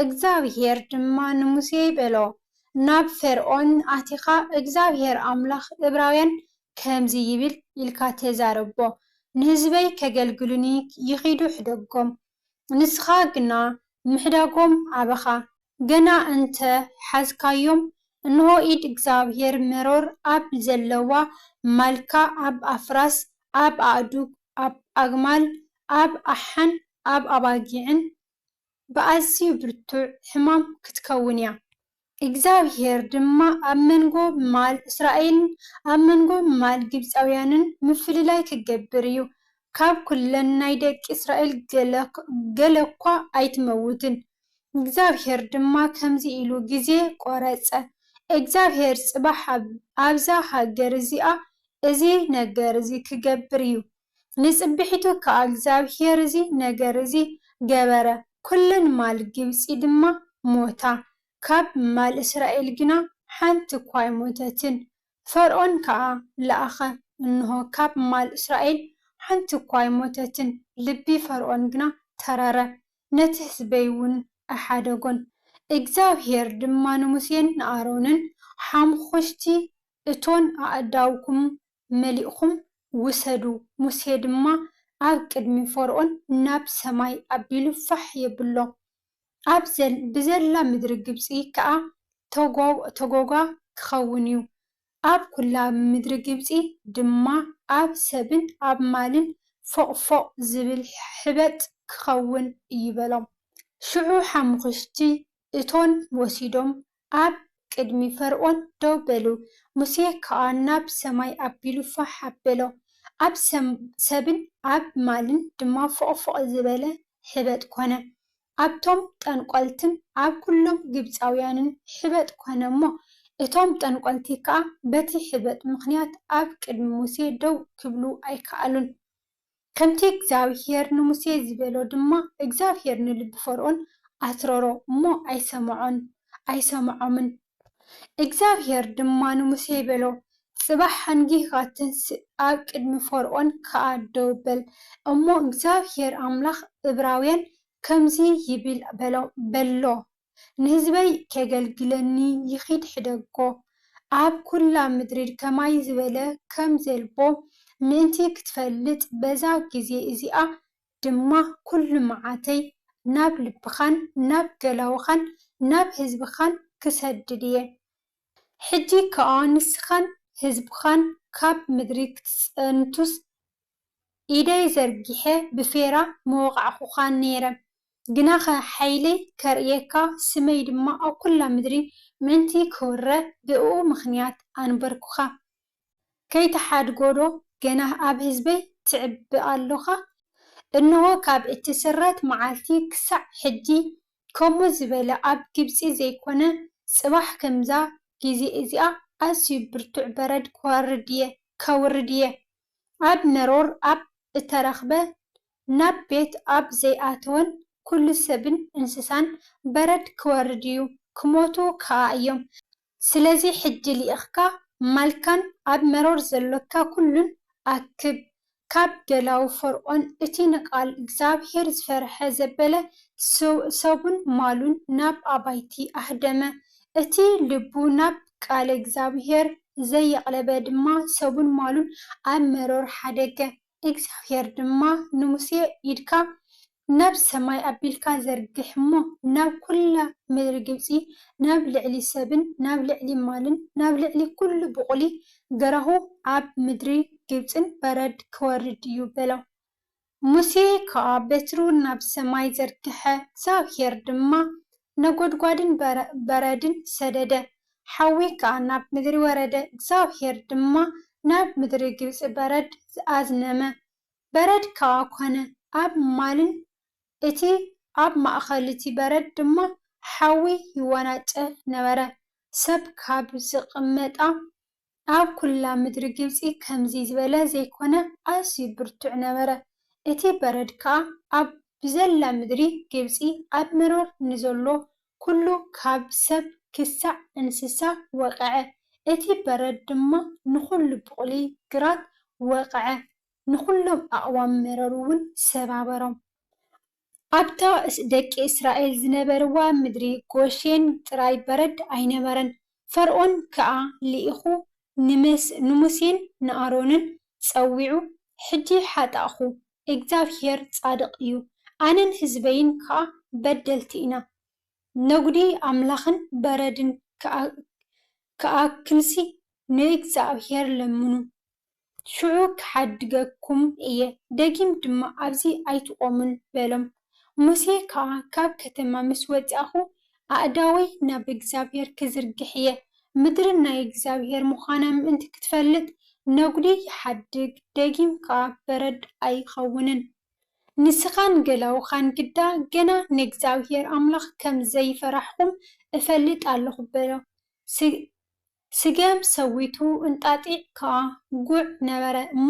እግዚኣብሄር ድማ ንሙሴ በሎ፣ ናብ ፈርኦን ኣቲኻ፣ እግዚኣብሄር ኣምላኽ እብራውያን ከምዚ ይብል ኢልካ ተዛረቦ፣ ንህዝበይ ኬገልግሉኒ ይኺዱ ሕደጎም፣ ንስኻ ግና ምሕዳጎም ኣበኻ፣ ገና እንተ ሓዝካዮም፣ እንሆ፣ ኢድ እግዚኣብሄር መሮር ኣብ ዘለዋ ማልካ፣ ኣብ ኣፍራስ፣ ኣብ ኣእዱግ፣ ኣብ ኣግማል፣ ኣብ ኣሓን ኣብ ኣባጊዕን ብኣዝዩ ብርቱዕ ሕማም ክትከውን እያ። እግዚኣብሄር ድማ ኣብ መንጎ ማል እስራኤልን ኣብ መንጎ ማል ግብጻውያንን ምፍልላይ ኪገብር እዩ። ካብ ኵለን ናይ ደቂ እስራኤል ገለ እኳ ኣይትመውትን። እግዚኣብሄር ድማ ከምዚ ኢሉ ግዜ ቈረጸ፣ እግዚኣብሄር ጽባሕ ኣብዛ ሃገር እዚኣ እዚ ነገር እዚ ኺገብር እዩ፣ ንጽብሒቱ ከኣ እግዚኣብሄር እዚ ነገር እዚ ገበረ፣ ኵለን ማል ግብጺ ድማ ሞታ፣ ካብ ማል እስራኤል ግና ሓንቲ እኳ ኣይሞተትን። ፈርኦን ከኣ ለኣኸ፣ እንሆ፣ ካብ ማል እስራኤል ሓንቲ እኳ ኣይሞተትን፣ ልቢ ፈርኦን ግና ተረረ፣ ነቲ ህዝበይውን ኣይሓደጎን። እግዚኣብሄር ድማ ንሙሴን ንኣሮንን፣ ሓሙዅሽቲ እቶን ኣእዳውኩም መሊእኩም ውሰዱ፣ ሙሴ ድማ ኣብ ቅድሚ ፈርኦን ናብ ሰማይ ኣቢሉ ፋሕ የብሎ፣ ኣብ ብዘላ ምድሪ ግብጺ ከኣ ተጐጓ ኪኸውን እዩ፣ ኣብ ኵላ ምድሪ ግብጺ ድማ ኣብ ሰብን ኣብ ማልን ፎቕፎቕ ዚብል ሕበጥ ኪኸውን እዩ በሎም። ሽዑ ሓሙኽሽቲ እቶን ወሲዶም ኣብ ቅድሚ ፈርኦን ደው በሉ። ሙሴ ከኣ ናብ ሰማይ ኣቢሉ ፋሕ ኣበሎ፣ ኣብ ሰብን ኣብ ማልን ድማ ፎቕፎቕ ዝበለ ሕበጥ ኰነ። ኣብቶም ጠንቈልትን ኣብ ኵሎም ግብጻውያንን ሕበጥ ኰነ እሞ፣ እቶም ጠንቈልቲ ከኣ በቲ ሕበጥ ምኽንያት ኣብ ቅድሚ ሙሴ ደው ክብሉ ኣይከኣሉን። ከምቲ እግዚኣብሄር ንሙሴ ዝበሎ ድማ እግዚኣብሄር ንልቢ ፈርኦን ኣትረሮ እሞ ኣይሰምዖን፣ ኣይሰምዖምን። እግዚኣብሄር ድማ ንሙሴ በሎ፣ ጽባሕ ሓንጊህካ ትንስእ፣ ኣብ ቅድሚ ፈርኦን ከኣ ደው በል እሞ እግዚኣብሄር ኣምላኽ እብራውያን ከምዚ ይብል በሎ፣ ንህዝበይ ኬገልግለኒ ይኺድ ሕደጎ፣ ኣብ ኵላ ምድሪ ከማይ ዝበለ ከም ዘልቦ ምእንቲ ኽትፈልጥ፣ በዛ ጊዜ እዚኣ ድማ ኵሉ መዓተይ ናብ ልብኻን ናብ ገላዉኻን ናብ ህዝብኻን ክሰድድ እየ። ሕጂ ኸኣ ንስኻን ህዝብኻን ካብ ምድሪ ኽትጸንቱስ፣ ኢደይ ዘርጊሐ ብፌራ ምወቓዕኩኻን ነይረ፣ ግናኸ ሓይለይ ከርእየካ፣ ስመይ ድማ ኣብ ኵላ ምድሪ ምእንቲ ኪውረ፣ ብእኡ ምኽንያት ኣንበርኩኻ። ከይትሓድጎዶ ገና ኣብ ህዝበይ ትዕቢ ኣሎኻ? እንሆ፣ ካብ እትስረት መዓልቲ ኽሳዕ ሕጂ፣ ከምኡ ዝበለ ኣብ ግብጺ ዘይኰነ፣ ጽባሕ ከምዛ ጊዜ እዚኣ፣ ኣዝዩ ብርቱዕ በረድ ከወርድ እየ፣ ከውርድ እየ። ኣብ መሮር ኣብ እተረኽበ ናብ ቤት ኣብ ዘይኣተወን ኵሉ ሰብን እንስሳን በረድ ኪወርድ እዩ፣ ኪሞቱ ከኣ እዮም። ስለዚ ሕጂ ልኢኽካ ማልካን ኣብ መሮር ዘሎካ ኵሉን ኣክብ፣ ካብ ደላዉ ፈርኦን እቲ ንቓል እግዚኣብሄር ዝፈርሐ ዘበለ ሰቡን ማሉን ናብ ኣባይቲ ኣህደመ፣ እቲ ልቡ ናብ ቃለ እግዚኣብሄር ዘየቕለበ ድማ ሰቡን ማሉን ኣብ መሮር ሓደገ። እግዚኣብሄር ድማ ንሙሴ፣ ኢድካ ናብ ሰማይ ኣቢልካ ዘርግሕ እሞ፣ ናብ ኵላ ምድሪ ግብጺ፣ ናብ ልዕሊ ሰብን ናብ ልዕሊ ማልን ናብ ልዕሊ ኵሉ ብቝሊ ገራሁ ኣብ ምድሪ ግብጽን በረድ ኪወርድ እዩ፣ በሎ። ሙሴ ኸኣ በትሩ ናብ ሰማይ ዘርግሐ፣ እግዚኣብሄር ድማ ነጐድጓድን በረድን ሰደደ፣ ሓዊ ኸኣ ናብ ምድሪ ወረደ፣ እግዚኣብሄር ድማ ናብ ምድሪ ግብጺ በረድ ኣዝነመ፣ በረድ ከኣ ኰነ፣ ኣብ ማልን እቲ ኣብ ማእከል እቲ በረድ ድማ ሓዊ ይወናጨፍ ነበረ፣ ሰብ ካብ ዝቕመጣ ኣብ ኵላ ምድሪ ግብጺ ከምዚ ዝበለ ዘይኰነ ኣዝዩ ብርቱዕ ነበረ። እቲ በረድ ከኣ ኣብ ብዘላ ምድሪ ግብጺ ኣብ መሮር ንዘሎ ኵሉ ካብ ሰብ ክሳዕ እንስሳ ወቕዐ። እቲ በረድ ድማ ንዅሉ ብቝሊ ግራት ወቕዐ፣ ንዅሎም ኣቕዋም መሮርውን ሰባበሮም። ኣብታ ደቂ እስራኤል ዝነበርዋ ምድሪ ጎሼን ጥራይ በረድ ኣይነበረን። ፈርኦን ከኣ ልኢኹ ንሙሴን ንኣሮንን ጸዊዑ፣ ሕጂ ሓጣእኩ፣ እግዚኣብሄር ጻድቕ እዩ፣ ኣነን ህዝበይን ከኣ በደልቲ ኢና፣ ነጕዲ ኣምላኽን በረድን ከኣክልሲ ንእግዚኣብሄር ለምኑ። ሽዑ ኽሓድገኩም እየ፣ ደጊም ድማ ኣብዚ ኣይትቖሙን በሎም። ሙሴ ከኣ ካብ ከተማ ምስ ወጻእኩ፣ ኣእዳወይ ናብ እግዚኣብሄር ክዝርግሕ እየ፣ ምድሪ ናይ እግዚኣብሄር ምዃና ምእንቲ ክትፈልጥ፣ ነጕዲ ይሓድግ፣ ደጊም ከኣ በረድ ኣይኸውንን። ንስኻን ገላዉኻን ግዳ ገና ንእግዚኣብሄር ኣምላኽ ከም ዘይፈራሕኩም እፈልጥ ኣሎኹ በሎ። ስገም ሰዊቱ እንጣጢዕ ከኣ ጉዕ ነበረ እሞ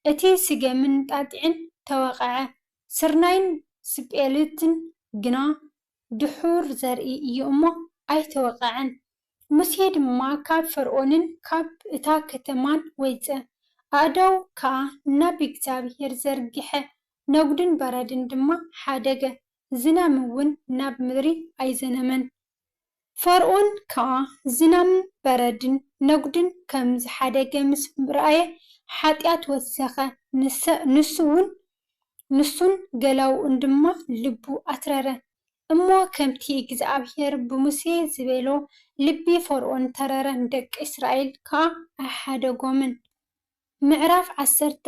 እቲ ስገምን እንጣጢዕን ተወቐዐ። ስርናይን ስጴልትን ግና ድሑር ዘርኢ እዩ እሞ ኣይተወቐዐን። ሙሴ ድማ ካብ ፈርኦንን ካብ እታ ከተማን ወይጸ፣ ኣእዳዉ ከኣ ናብ እግዚኣብሄር ዘርግሐ፣ ነጕድን በረድን ድማ ሓደገ፣ ዝናምውን ናብ ምድሪ ኣይዘነመን። ፈርኦን ከኣ ዝናምን በረድን ነጉድን ከም ዝሓደገ ምስ ረኣየ ሓጢኣት ወሰኸ፣ ንሱውን ንሱን ገላዉኡን ድማ ልቡ ኣትረረ። እሞ ከምቲ እግዚኣብሄር ብሙሴ ዝበሎ ልቢ ፈርኦን ተረረ፣ ንደቂ እስራኤል ከኣ ኣይሓደጎምን። ምዕራፍ ዓሰርተ፣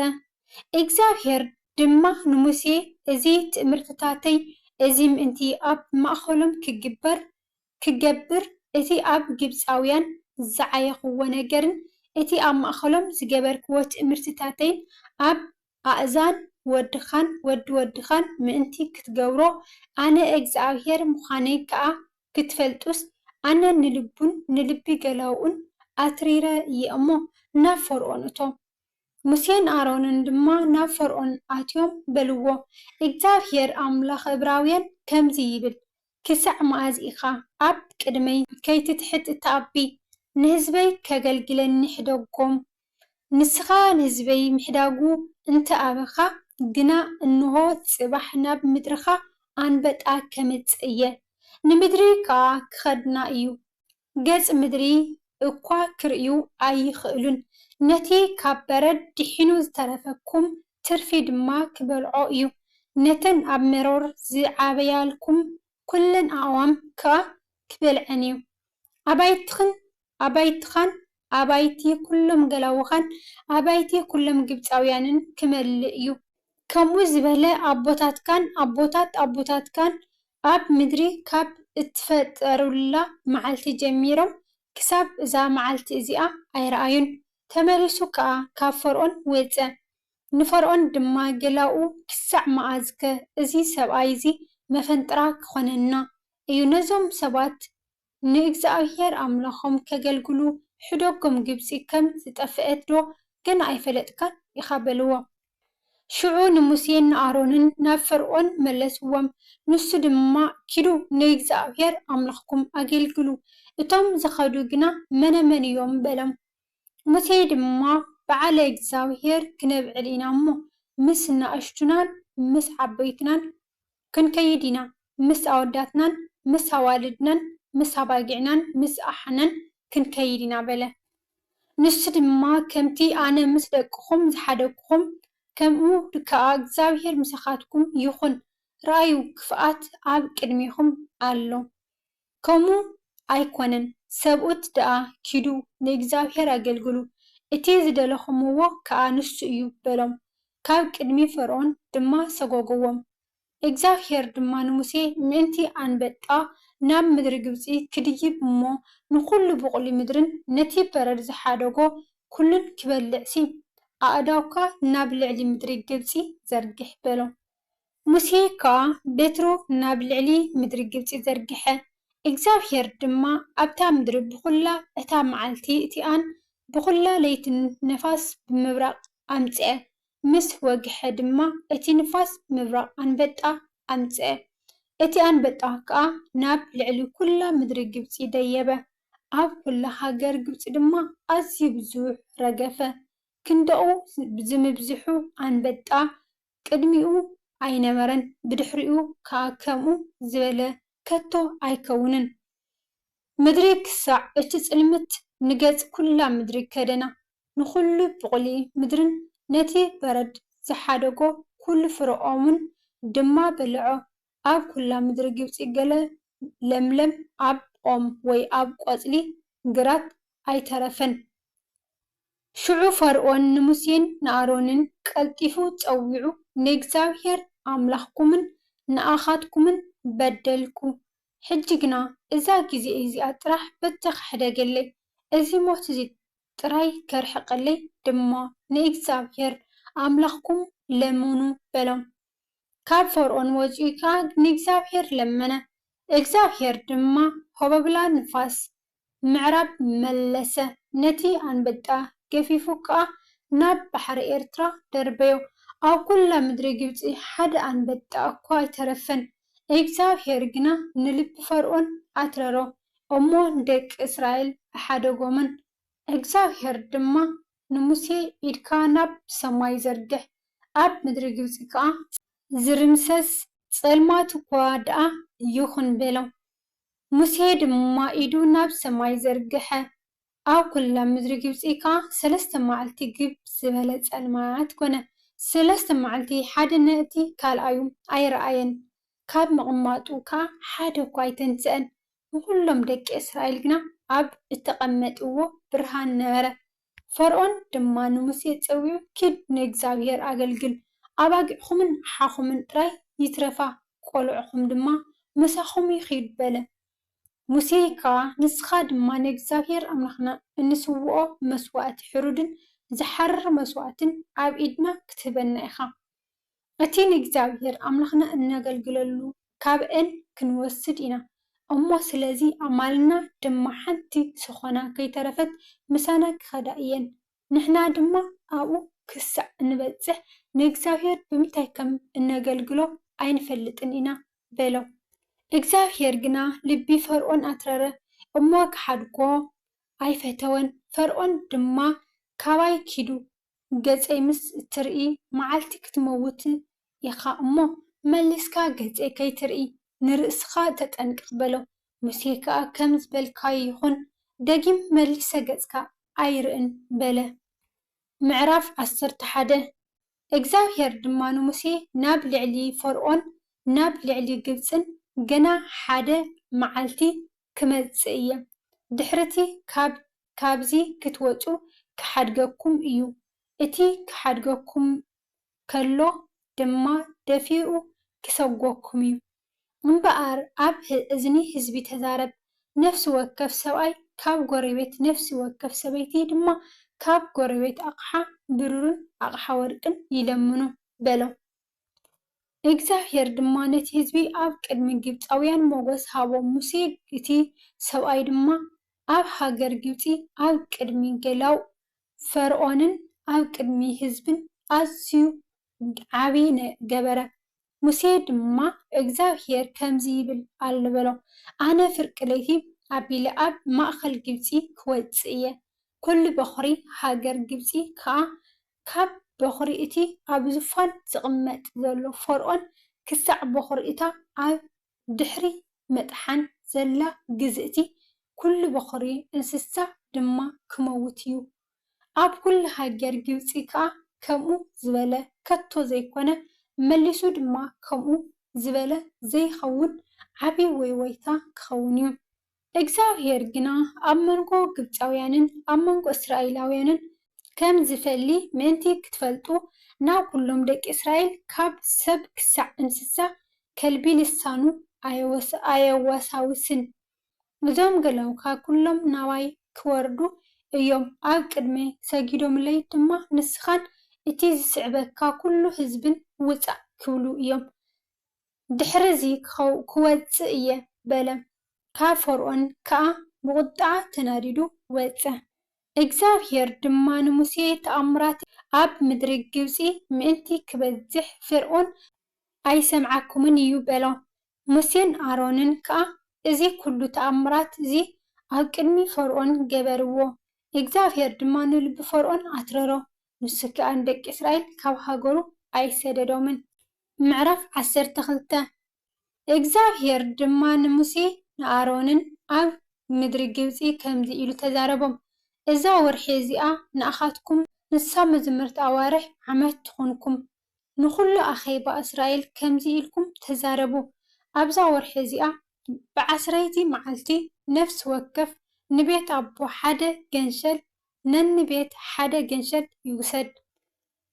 እግዚኣብሄር ድማ ንሙሴ፣ እዚ ትእምርትታተይ እዚ ምእንቲ ኣብ ማእከሎም ኪግበር፣ ክገብር፣ እቲ ኣብ ግብጻውያን ዝዓየኽዎ ነገርን እቲ ኣብ ማእከሎም ዝገበርክዎ ትእምርትታተይን ኣብ ኣእዛን ወድኻን ወዲ ወድኻን ምእንቲ ክትገብሮ፣ ኣነ እግዚኣብሄር ምዃነይ ከኣ ክትፈልጡስ ኣነ ንልቡን ንልቢ ገላዉኡን ኣትሪረ እየ እሞ፣ ናብ ፈርኦን እቶ። ሙሴን ኣሮንን ድማ ናብ ፈርኦን ኣትዮም በልዎ፣ እግዚኣብሄር ኣምላኽ እብራውያን ከምዚ ይብል፣ ክሳዕ መኣዝ ኢኻ ኣብ ቅድመይ ከይትትሕት እተኣቢ? ንህዝበይ ከገልግለኒ ሕደጎም። ንስኻ ንህዝበይ ምሕዳጉ እንተ ኣበኻ ግና፣ እንሆ፣ ጽባሕ ናብ ምድርኻ ኣንበጣ ኬምጽእ እየ፣ ንምድሪ ከኣ ኪኸድና እዩ፣ ገጽ ምድሪ እኳ ኪርእዩ ኣይኽእሉን፣ ነቲ ኻብ በረድ ድሒኑ ዝተረፈኩም ትርፊ ድማ ኪበልዖ እዩ፣ ነተን ኣብ መሮር ዝዓበያልኩም ኵለን ኣእዋም ከኣ ኪበልዐን እዩ። ኣባይትኽን ኣባይትኻን ኣባይቲ ኵሎም ገላዉኻን ኣባይቲ ኵሎም ግብጻውያንን ኪመልእ እዩ። ከምኡ ዝበለ ኣቦታትካን ኣቦታት ኣቦታትካን ኣብ ምድሪ ኻብ እተፈጠሩላ መዓልቲ ጀሚሮም ክሳብ እዛ መዓልቲ እዚኣ ኣይረኣዩን። ተመሊሱ ከኣ ኻብ ፈርኦን ወጸ፣ ንፈርኦን ድማ ጌላኡ፣ ክሳዕ መኣዝከ እዚ ሰብኣይ እዚ መፈንጥራ ኪዀነና እዩ? ነዞም ሰባት ንእግዚኣብሄር ኣምላኾም ኬገልግሉ ሕደጎም ግብጺ ኸም ዝጠፍአትዶ ገና ኣይፈለጥካን ኢኻ? በልዎ። ሽዑ ንሙሴን ንኣሮንን ናብ ፈርኦን መለስዎም፣ ንሱ ድማ ኪዱ ንእግዚኣብሄር ኣምላኽኩም ኣገልግሉ፣ እቶም ዝኸዱ ግና መነመን እዮም? በሎም። ሙሴ ድማ፣ በዓለ እግዚኣብሄር ክነብዕል ኢና እሞ፣ ምስ ናእሽቱናን ምስ ዓበይትናን ክንከይድ ኢና፣ ምስ ኣወዳትናን ምስ ኣዋልድናን ምስ ኣባጊዕናን ምስ ኣሓናን ክንከይድ ኢና በለ። ንሱ ድማ፣ ከምቲ ኣነ ምስ ደቅኹም ዝሓደግኩኹም፣ ከምኡ ከኣ እግዚኣብሄር ምሳኻትኩም ይኹን፣ ርኣዩ፣ ክፍኣት ኣብ ቅድሜኹም ኣሎ። ከምኡ ኣይኮነን ሰብኡት ደኣ ኪዱ ንእግዚኣብሄር ኣገልግሉ፣ እቲ ዝደለኹምዎ ከኣ ንሱ እዩ በሎም፣ ካብ ቅድሚ ፈርኦን ድማ ሰጐጕዎም። እግዚኣብሄር ድማ ንሙሴ ምእንቲ ኣንበጣ ናብ ምድሪ ግብጺ ክድይብ እሞ ንዅሉ ብቝሊ ምድርን ነቲ በረድ ዝሓደጎ ኵሉን ክበልዕሲ፣ ኣእዳውካ ናብ ልዕሊ ምድሪ ግብጺ ዘርግሕ በሎ። ሙሴ ከኣ በትሩ ናብ ልዕሊ ምድሪ ግብጺ ዘርግሐ፣ እግዚኣብሄር ድማ ኣብታ ምድሪ ብዅላ እታ መዓልቲ እቲኣን ብዅላ ለይትን ንፋስ ብምብራቕ ኣምጽአ፣ ምስ ወግሐ ድማ እቲ ንፋስ ምብራቕ ኣንበጣ ኣምጽአ፣ እቲ ኣንበጣ ከኣ ናብ ልዕሊ ኵላ ምድሪ ግብጺ ደየበ፣ ኣብ ኵላ ሃገር ግብጺ ድማ ኣዝዩ ብዙሕ ረገፈ፣ ክንዳኡ ዝምብዝሑ ኣንበጣ ቅድሚኡ ኣይነበረን ብድሕሪኡ ከኣ ከምኡ ዝበለ ከቶ ኣይከውንን ምድሪ ክሳዕ እቲ ጽልምት ንገጽ ኩላ ምድሪ ከደና ንኹሉ ብቑሊ ምድርን ነቲ በረድ ዝሓደጎ ኩሉ ፍረኦምን ድማ በለዖ ኣብ ኩላ ምድሪ ግብጺ ገለ ለምለም ኣብ ኦም ወይ ኣብ ቆጽሊ ግራት ኣይተረፈን። ሽዑ ፈርኦን ንሙሴን ንኣሮንን ቀልጢፉ ጸዊዑ፣ ንእግዚኣብሄር ኣምላኽኩምን ንኣኻትኩምን በደልኩ፣ ሕጂ ግና እዛ ግዜ እዚኣ ጥራሕ በተኽሕደገለይ፣ እዚ ሞት እዚ ጥራይ ከርሕቀለይ ድማ ንእግዚኣብሄር ኣምላኽኩም ለምኑ፣ በሎም። ካብ ፈርኦን ወጺኡ ከኣ ንእግዚኣብሄር ለመነ፣ እግዚኣብሄር ድማ ሆበብላ ንፋስ ምዕራብ መለሰ። ነቲ ኣንበጣ ገፊፉ ከኣ ናብ ባሕሪ ኤርትራ ደርበዮ። ኣብ ኩላ ምድሪ ግብጺ ሓደ ኣንበጣ እኳ ኣይተረፈን። እግዚኣብሄር ግና ንልቢ ፈርኦን ኣትረሮ እሞ ንደቂ እስራኤል ኣሓደጎምን። እግዚኣብሄር ድማ ንሙሴ ኢድካ ናብ ሰማይ ዘርግሕ፣ ኣብ ምድሪ ግብጺ ከኣ። ዝርምሰስ ጸልማት እኳ ደኣ ይኹን በሎ። ሙሴ ድማ ኢዱ ናብ ሰማይ ዘርግሐ፣ ኣብ ኵላ ምድሪ ግብጺ ከኣ ሰለስተ መዓልቲ ግብ ዝበለ ጸልማት ኰነ። ሰለስተ መዓልቲ ሓደ ነቲ ካልኣዩ ኣይረኣየን፣ ካብ ምቕማጡ ከኣ ሓደ እኳ ኣይተንስአን። ንዅሎም ደቂ እስራኤል ግና ኣብ እተቐመጥዎ ብርሃን ነበረ፣ ፈርኦን ድማ ንሙሴ ጸዊዑ ኪድ ንእግዚኣብሄር ኣገልግል ኣባጊዕኹምን ዓኻኹምን ጥራይ ይትረፋ ቆልዑኹም ድማ ምሳኹም ይኺድ በለ። ሙሴ ከኣ ንስኻ ድማ ንእግዚኣብሄር ኣምላኽና እንስውኦ መስዋእቲ ሕሩድን ዝሓርር መስዋእትን ኣብ ኢድና ክትህበና ኢኻ። እቲ ንእግዚኣብሄር ኣምላኽና እነገልግለሉ ካብኤል ክንወስድ ኢና እሞ ስለዚ ኣማልና ድማ ሓንቲ ሰኾና ከይተረፈት ምሳና ክኸዳ እየን ንሕና ድማ ኣብኡ ክሳዕ እንበጽሕ ንእግዚኣብሄር ብምንታይ ከም እነገልግሎ ኣይንፈልጥን ኢና በሎ እግዚኣብሄር ግና ልቢ ፈርኦን ኣትረረ እሞ ክሓድጎ ኣይፈተወን ፈርኦን ድማ ካባይ ኪዱ ገጸይ ምስ እትርኢ መዓልቲ ክትመውት ኢኻ እሞ፣ መሊስካ ገጸይ ከይትርኢ ንርእስኻ ተጠንቀቕ በሎ። ሙሴ ከኣ ከም ዝበልካዮ ይኹን፣ ደጊም መሊሰ ገጽካ ኣይርእን በለ። ምዕራፍ ዓሰርተ ሓደ፣ እግዚኣብሄር ድማ ንሙሴ ናብ ልዕሊ ፈርኦን ናብ ልዕሊ ግብጽን ገና ሓደ መዓልቲ ክመጽእ እየ ድሕርቲ ካብ ካብዚ ክትወጹ ክሓድገኩም እዩ እቲ ክሓድገኩም ከሎ ድማ ደፊኡ ክሰጎኩም እዩ እምበኣር ኣብ እዝኒ ህዝቢ ተዛረብ ነፍሲ ወከፍ ሰብኣይ ካብ ጎሬቤት ነፍሲ ወከፍ ሰበይቲ ድማ ካብ ጎሬቤት ኣቕሓ ብሩርን ኣቕሓ ወርቅን ይለምኑ በሎም። እግዚኣብሄር ድማ ነቲ ህዝቢ ኣብ ቅድሚ ግብጻውያን ሞገስ ሃቦ፣ ሙሴ እቲ ሰብኣይ ድማ ኣብ ሃገር ግብጺ ኣብ ቅድሚ ገላዉ ፈርኦንን ኣብ ቅድሚ ህዝብን ኣዝዩ ዓቢ ገበረ። ሙሴ ድማ እግዚኣብሄር ከምዚ ይብል ኣሎ በሎ፣ ኣነ ፍርቂ ለይቲ ኣቢለ ኣብ ማእከል ግብጺ ክወጽእ እየ፣ ኵሉ በዅሪ ሃገር ግብጺ ኸኣ ካብ በዅሪ እቲ ኣብ ዙፋን ዚቕመጥ ዘሎ ፈርኦን ክሳዕ በዅሪ እታ ኣብ ድሕሪ ምጥሓን ዘላ ግዝእቲ፣ ኵሉ በዅሪ እንስሳ ድማ ኪመውት እዩ። ኣብ ኵሉ ሃገር ግብጺ ከኣ ከምኡ ዝበለ ከቶ ዘይኰነ፣ መሊሱ ድማ ከምኡ ዝበለ ዘይኸውን ዓብዪ ወይወይታ ኪኸውን እዩ። እግዚኣብሄር ግና ኣብ መንጎ ግብጻውያንን ኣብ መንጎ እስራኤላውያንን ከም ዚፈሊ ምእንቲ ኽትፈልጡ፣ ናብ ዅሎም ደቂ እስራኤል፣ ካብ ሰብ ክሳዕ እንስሳ ከልቢ ልሳኑ ኣየወሳውስን። እዞም ገላዉኻ ዅሎም ናባይ ኪወርዱ እዮም፣ ኣብ ቅድመይ ሰጊዶምለይ ድማ፣ ንስኻን እቲ ዚስዕበካ ዅሉ ህዝብን ውጻእ ኪብሉ እዮም። ድሕርዚ ክወጽእ እየ በለ። ካብ ፈርኦን ከኣ ብቑጥዓ ተናዲዱ ወጸ። እግዚኣብሄር ድማ ንሙሴ ተኣምራተይ ኣብ ምድሪ ግብጺ ምእንቲ ክበዝሕ ፈርኦን ኣይሰምዓኩምን እዩ በሎ። ሙሴን ኣሮንን ከኣ እዚ ኩሉ ተኣምራት እዚ ኣብ ቅድሚ ፈርኦን ገበርዎ። እግዚኣብሄር ድማ ንልቢ ፈርኦን ኣትረሮ፣ ንሱ ከኣ ንደቂ እስራኤል ካብ ሃገሩ ኣይሰደዶምን። ምዕራፍ ዓሰርተ ክልተ እግዚኣብሄር ድማ ንሙሴን ንኣሮንን ኣብ ምድሪ ግብጺ ከምዚ ኢሉ ተዛረቦም፣ እዛ ወርሒ እዚኣ ንኣኻትኩም ንሳ መዘምርቲ ኣዋርሕ ዓመት ትኹንኩም። ንዅሉ ኣኼባ እስራኤል ከምዚ ኢልኩም ተዛረቡ፣ ኣብዛ ወርሒ እዚኣ ብዓስረይቲ መዓልቲ ነፍሲ ወከፍ ንቤት ኣቦ ሓደ ገንሸል ነንቤት ሓደ ገንሸል ይውሰድ።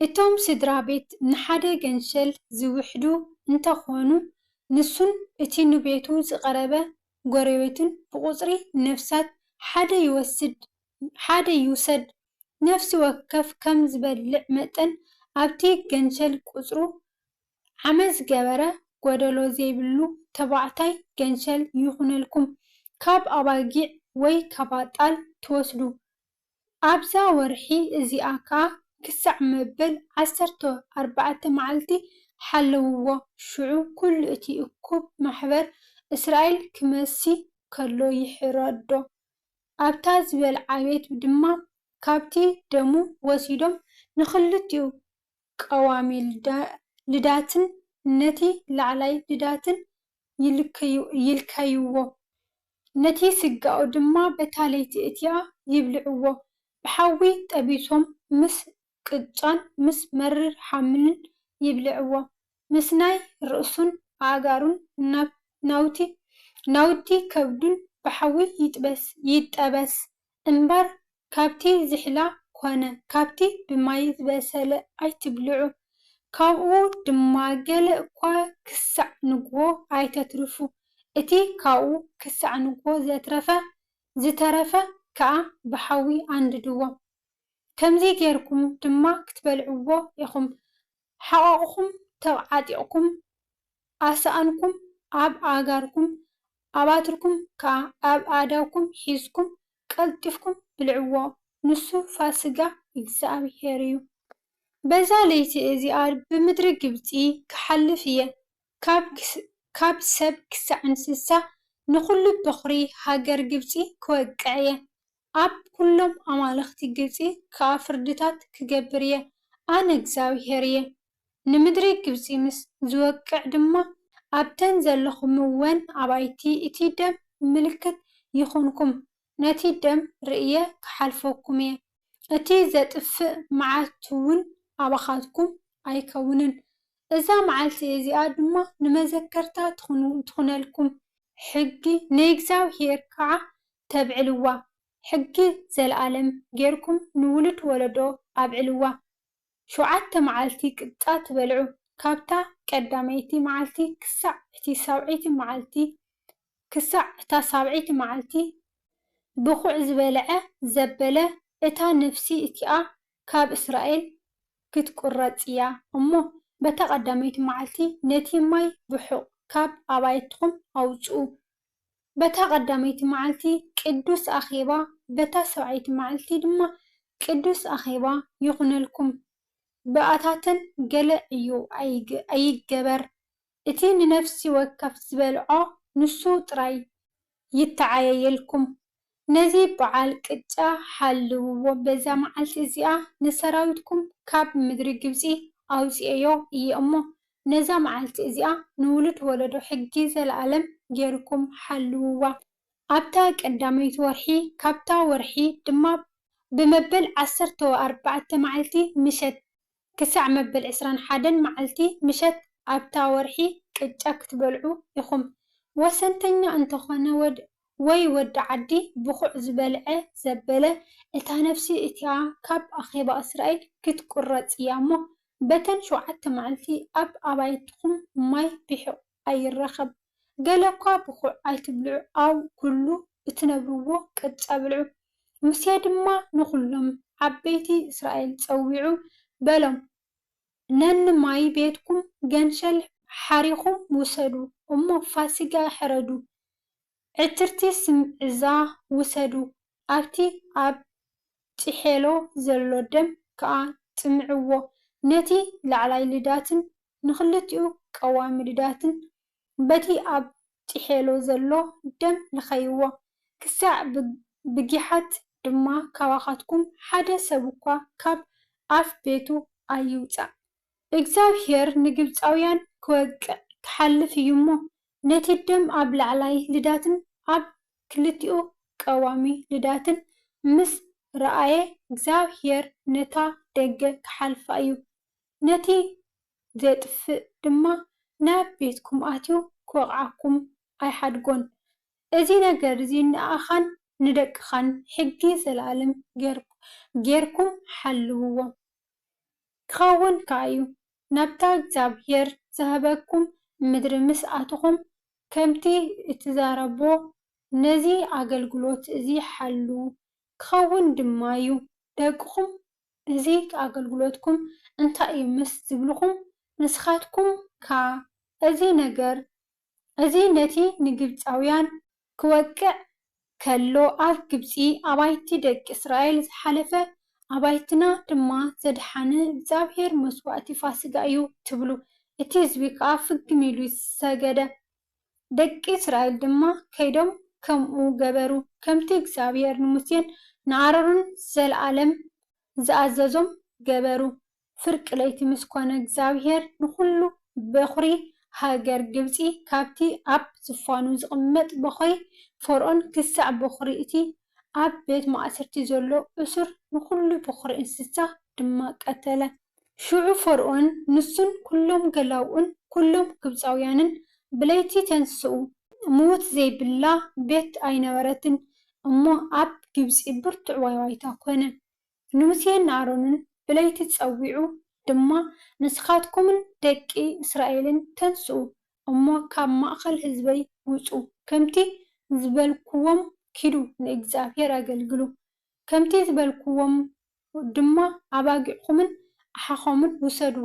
እቶም ስድራ ቤት ንሓደ ገንሸል ዝውሕዱ እንተኾኑ፣ ንሱን እቲ ንቤቱ ዝቐረበ ጎረቤቱን ብቑጽሪ ነፍሳት ሓደ ይወስድ ሓደ ይውሰድ ነፍሲ ወከፍ ከም ዝበልዕ መጠን ኣብቲ ገንሸል ቁጽሩ ዓመት ዝገበረ ጎደሎ ዘይብሉ ተባዕታይ ገንሸል ይኹነልኩም ካብ ኣባጊዕ ወይ ካባጣል ትወስዱ ኣብዛ ወርሒ እዚኣ ከኣ ክሳዕ መበል ዓሰርተ ኣርባዕተ መዓልቲ ሓለውዎ፣ ሽዑ ኵሉ እቲ እኩብ ማሕበር እስራኤል ኪመሲ ከሎ ይሕረዶ። ኣብታ ዝበልዓ ቤት ድማ ካብቲ ደሙ ወሲዶም ንኽልቲኡ ቀዋሚ ልዳትን ነቲ ላዕላይ ልዳትን ይልከይዎ፣ ነቲ ስጋኡ ድማ በታ ለይቲ እቲኣ ይብልዕዎ፣ ብሓዊ ጠቢሶም ምስ ቅጫን ምስ መሪር ሓምልን ይብልዕዎ፣ ምስ ናይ ርእሱን ኣእጋሩን ናውቲ ከብዱን ብሓዊ ይጠበስ፣ እምበር ካብቲ ዝሕላ ኮነ ካብቲ ብማይ ዝበሰለ ኣይትብልዑ፣ ካብኡ ድማ ገለ እኳ ክሳዕ ንግሆ ኣይተትርፉ፣ እቲ ካብኡ ክሳዕ ንግሆ ዘትረፈ ዝተረፈ ከኣ ብሓዊ ኣንድድዎ፣ ከምዚ ጌርኩም ድማ ክትበልዕዎ ኢኹም፣ ሓቛቑኩም ተብዓጢቕኩም ኣሳእንኩም ኣብ ኣእጋርኩም ኣባትርኩም ከኣ ኣብ ኣእዳውኩም ሒዝኩም ቀልጢፍኩም ብልዕዎ ንሱ ፋስጋ እግዚኣብሄር እዩ። በዛ ለይቲ እዚኣ ብምድሪ ግብጺ ክሓልፍ እየ፣ ካብ ሰብ ክሳዕ እንስሳ ንዅሉ በዅሪ ሃገር ግብጺ ክወቅዕ እየ፣ ኣብ ኵሎም ኣማልኽቲ ግብጺ ከኣ ፍርድታት ክገብር እየ፣ ኣነ እግዚኣብሄር እየ። ንምድሪ ግብጺ ምስ ዝወቅዕ ድማ፣ ኣብተን ዘለኹምወን ኣባይቲ እቲ ደም ምልክት ይኹንኩም፣ ነቲ ደም ርእየ ኽሓልፈኩም እየ፣ እቲ ዜጥፍእ መዓትውን ኣባኻትኩም ኣይከውንን። እዛ መዓልቲ እዚኣ ድማ ንመዘከርታ ትኹነልኩም፣ ሕጊ ናይ እግዚኣብሄር ከኣ ተብዕልዋ ሕጊ ዘልኣለም ጌርኩም ንውሉድ ወለዶ ኣብዕልዋ ሸውዓተ መዓልቲ ቅጫ ትበልዑ ካብታ ቀዳመይቲ መዓልቲ ክሳዕ እቲ ሳብዐይቲ መዓልቲ ክሳዕ እታ ሳብዐይቲ መዓልቲ ብኩዕ ዝበልዐ ዘበለ እታ ነፍሲ እቲኣ ካብ እስራኤል ክትቁረጽ እያ እሞ በታ ቀዳመይቲ መዓልቲ ነቲ ማይ ብሑቅ ካብ ኣባይትኩም ኣውጽኡ በታ ቐዳመይቲ መዓልቲ ቅዱስ ኣኼባ፣ በታ ሰብዓይቲ መዓልቲ ድማ ቅዱስ ኣኼባ ይኹነልኩም። ብኣታተን ገለ ዕዮ ኣይገበር፣ እቲ ንነፍሲ ወከፍ ዝበልዖ ንሱ ጥራይ ይተዓየየልኩም። ነዚ በዓል ቅጫ ሓልውዎ፣ በዛ መዓልቲ እዚኣ ንሰራዊትኩም ካብ ምድሪ ግብጺ ኣውጺኤዮ እየ እሞ፣ ነዛ መዓልቲ እዚኣ ንውሉድ ወለዶ ሕጊ ዘለኣለም ገይርኩም ሓልውዋ። ኣብታ ቀዳመይቲ ወርሒ፣ ካብታ ወርሒ ድማ ብመበል ዓሰርተው ኣርባዕተ መዓልቲ ምሸት ክሳዕ መበል ዕስራን ሓደን መዓልቲ ምሸት ኣብታ ወርሒ ቅጫ ክትበልዑ ኢኹም። ወሰንተኛ እንተኾነ ወይ ወዲ ዓዲ ብዅዕ ዝበልዐ ዘበለ፣ እታ ነፍሲ እቲኣ ካብ ኣኼባ እስራኤል ክትቍረጽ እያ እሞ፣ በተን ሸውዓተ መዓልቲ ኣብ ኣባይትኹም ማይ ቢሕቝ። ኣይረከብ ገለ እኳ ብኩዕ ኣይትብልዑ ኣው ኩሉ እትነብርዎ ቅጫ ብልዑ። ሙሴ ድማ ንኩሎም ዓበይቲ እስራኤል ጸዊዑ በሎም ነንማይ ቤትኩም ገንሸል ሓሪኩም ውሰዱ እሞ ፋሲጋ ሕረዱ ዕትርቲ ስም እዛ ውሰዱ፣ ኣብቲ ኣብ ጢሔሎ ዘሎ ደም ከኣ ጽምዕዎ። ነቲ ላዕላይ ልዳትን ንኽልቲኡ ቀዋሚ ልዳትን በቲ ኣብ ጢሔሎ ዘሎ ደም ልኸይዎ፣ ክሳዕ ብጊሓት ድማ ካባኻትኩም ሓደ ሰብ'ኳ ካብ ኣፍ ቤቱ ኣይውጻእ። እግዚኣብሄር ንግብጻውያን ክወቅዕ ክሓልፍ እዩ እሞ፣ ነቲ ደም ኣብ ላዕላይ ልዳትን ኣብ ክልቲኡ ቀዋሚ ልዳትን ምስ ረኣየ፣ እግዚኣብሄር ነታ ደገ ክሓልፋ እዩ፣ ነቲ ዜጥፍእ ድማ ናብ ቤትኩም ኣትዩ ክወቕዓኩም ኣይሓድጎን። እዚ ነገር እዚ ንኣኻን ንደቅኻን ሕጊ ዘለኣለም ገይርኩም ሓልውዎም። ኪኸውን ከኣ እዩ። ናብታ እግዚኣብሄር ዝሀበኩም ምድሪ ምስ ኣቶኹም፣ ከምቲ እትዛረቦ ነዚ ኣገልግሎት እዚ ሐሉ፣ ኪኸውን ድማ እዩ። ደቅኹም እዚ ኣገልግሎትኩም እንታይ እዩ ምስ ዚብሉኹም፣ ንስኻትኩም ከኣ እዚ ነገር እዚ ነቲ ንግብጻውያን ክወቅዕ ከሎ ኣብ ግብጺ ኣባይቲ ደቂ እስራኤል ዝሓለፈ ኣባይትና ድማ ዘድሓነ እግዚኣብሄር መስዋእቲ ፋሲጋ እዩ ትብሉ እቲ ህዝቢ ከኣ ፍግም ኢሉ ሰገደ ደቂ እስራኤል ድማ ከይዶም ከምኡ ገበሩ ከምቲ እግዚኣብሄር ንሙሴን ንኣሮንን ንዘልኣለም ዝኣዘዞም ገበሩ ፍርቂ ለይቲ ምስ ኰነ እግዚኣብሄር ንዅሉ በዅሪ ሃገር ግብጺ ካብቲ ኣብ ዝፋኑ ዝቕመጥ በዅሪ ፈርኦን ክሳዕ በዅሪ እቲ ኣብ ቤት ማእሰርቲ ዘሎ እሱር ንዅሉ በዅሪ እንስሳ ድማ ቀተለ። ሽዑ ፈርኦን ንሱን ኵሎም ገላዉኡን ኵሎም ግብጻውያንን ብለይቲ ተንስኡ፣ ምዉት ዘይብላ ቤት ኣይነበረትን እሞ ኣብ ግብጺ ብርቱዕ ዋይዋይታ ኰነ። ንሙሴን ንኣሮንን ብለይቲ ጸዊዑ ድማ፣ ንስኻትኩምን ደቂ እስራኤልን ተንስኡ እሞ ካብ ማእከል ህዝበይ ውጹ፣ ከምቲ ዝበልኩዎም ኪዱ ንእግዚኣብሄር ኣገልግሉ፣ ከምቲ ዝበልኩዎም ድማ ኣባጊዕኩምን ኣሓኹምን ውሰዱ፣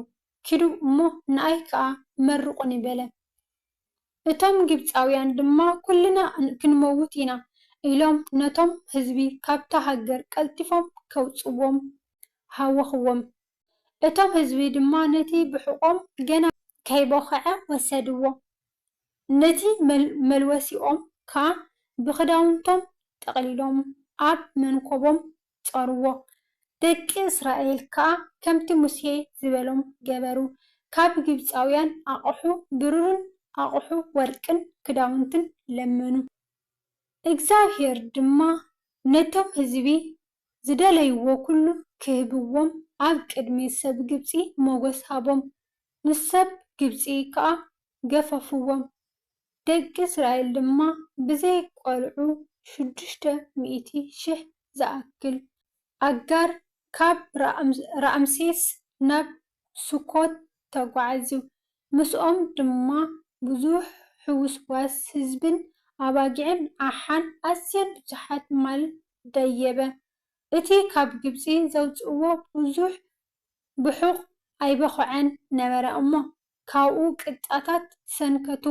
ኪዱ እሞ ንኣይ ከኣ መርቑኒ በለ። እቶም ግብጻውያን ድማ ኩልና ክንመውት ኢና ኢሎም ነቶም ህዝቢ ካብታ ሃገር ቀልጢፎም ከውጽዎም ሃወኽዎም። እቶም ህዝቢ ድማ ነቲ ብሑቖም ገና ከይቦኸዐ ወሰድዎ፣ ነቲ መልወሲኦም ከኣ ብኽዳውንቶም ጠቕሊሎም ኣብ መንኮቦም ጾርዎ። ደቂ እስራኤል ከኣ ከምቲ ሙሴ ዝበሎም ገበሩ፣ ካብ ግብጻውያን ኣቕሑ ብሩርን ኣቕሑ ወርቅን ክዳውንትን ለመኑ። እግዚኣብሄር ድማ ነቶም ህዝቢ ዝደለይዎ ኵሉ ኽህብዎም ኣብ ቅድሚ ሰብ ግብጺ ሞገስ ሃቦም፣ ንሰብ ግብጺ ኸኣ ገፈፍዎም። ደቂ እስራኤል ድማ ብዘይ ቈልዑ ሽዱሽተ ሚእቲ ሽሕ ዝኣክል ኣጋር ካብ ራምሴስ ናብ ሱኮት ተጓዕዙ፣ ምስኦም ድማ ብዙሕ ሕውስዋስ ህዝብን ኣባጊዕን ኣሓን ኣዝየን ብዙሓት ማል ደየበ። እቲ ካብ ግብጺ ዘውጽእዎ ብዙሕ ብሑቕ ኣይበዅዐን ነበረ እሞ። ካብኡ ቅጥጻታት ሰንከቱ።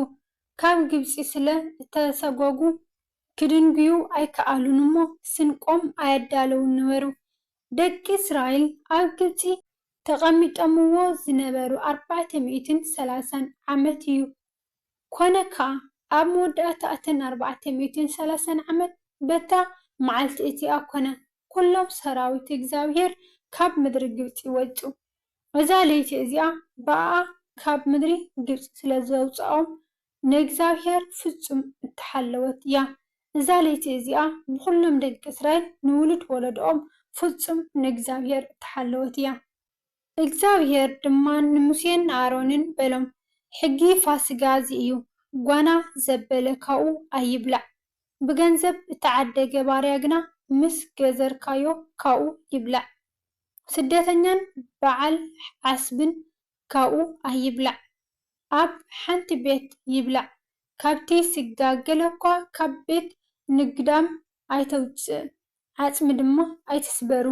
ካብ ግብጺ ስለ እተሰጐጉ ኪድንጕዩ ኣይከኣሉን እሞ፣ ስንቆም ኣየዳለዉን ነበሩ። ደቂ እስራኤል ኣብ ግብጺ ተቐሚጦምዎ ዝነበሩ ኣርባዕተ ሚእትን ሰላሳን ዓመት እዩ። ኰነ ከኣ፣ ኣብ መወዳእታ እተን ኣርባዕተ ሚእትን ሰላሳን ዓመት፣ በታ መዓልቲ እቲኣ ኰነ፣ ኵሎም ሰራዊት እግዚኣብሄር ካብ ምድሪ ግብጺ ወጹ። እዛ ለይቲ እዚኣ ብኣኣ ኻብ ምድሪ ግብጺ ስለ ዘውጽኦም፣ ንእግዚኣብሄር ፍጹም እተሓለወት እያ። እዛ ለይቲ እዚኣ ብዅሎም ደቂ እስራኤል ንውሉድ ወለዶኦም ፍጹም ንእግዚኣብሄር እተሓለወት እያ። እግዚኣብሄር ድማ ንሙሴን ንኣሮንን በሎም፣ ሕጊ ፋስጋ እዚ እዩ፣ ጓና ዘበለ ካብኡ ኣይብላዕ፣ ብገንዘብ እተዓደገ ባርያ ግና ምስ ገዘርካዮ ካብኡ ይብላዕ። ስደተኛን በዓል ዓስብን ካብኡ ኣይብላዕ ኣብ ሓንቲ ቤት ይብላዕ ካብቲ ስጋ ገለኳ ካብ ቤት ንግዳም ኣይተውጽእ ዓጽሚ ድማ ኣይትስበሩ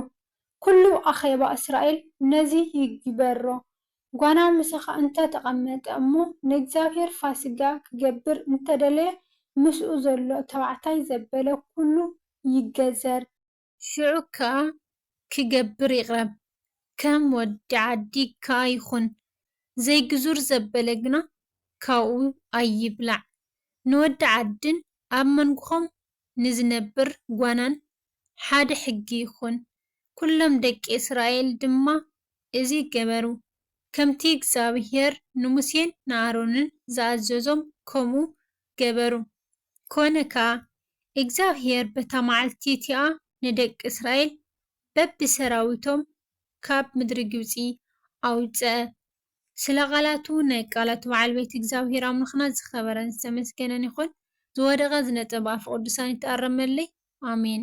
ኩሉ ኣኼባ እስራኤል ነዚ ይግበሮ ጓና ምሳኻ እንተ ተቐመጠ እሞ ንእግዚኣብሔር ፋሲጋ ክገብር እንተደለየ ምስኡ ዘሎ ተባዕታይ ዘበለ ኩሉ ይገዘር ሽዑ ከኣ ክገብር ይቅረብ ከም ወዲ ዓዲ ከኣ ይኹን ዘይግዙር ዘበለ ግና ካብኡ ኣይብላዕ ንወዲ ዓድን ኣብ መንጉኹም ንዝነብር ጓናን ሓደ ሕጊ ይኹን ኩሎም ደቂ እስራኤል ድማ እዚ ገበሩ ከምቲ እግዚኣብሄር ንሙሴን ንኣሮንን ዝኣዘዞም ከምኡ ገበሩ ኮነ ከኣ እግዚኣብሄር በታ መዓልቲ እቲኣ ንደቂ እስራኤል በብሰራዊቶም ካብ ምድሪ ግብጺ ኣውጸኣ። ስለ ቓላቱ፣ ናይ ቃላቱ በዓል ቤት እግዚኣብሄር ኣምላኽና ዝኸበረን ዝተመስገነን ይኹን። ዝወደቐ ዝነጸ ብኣፈ ቅዱሳን ይተኣረመለይ። ኣሜን።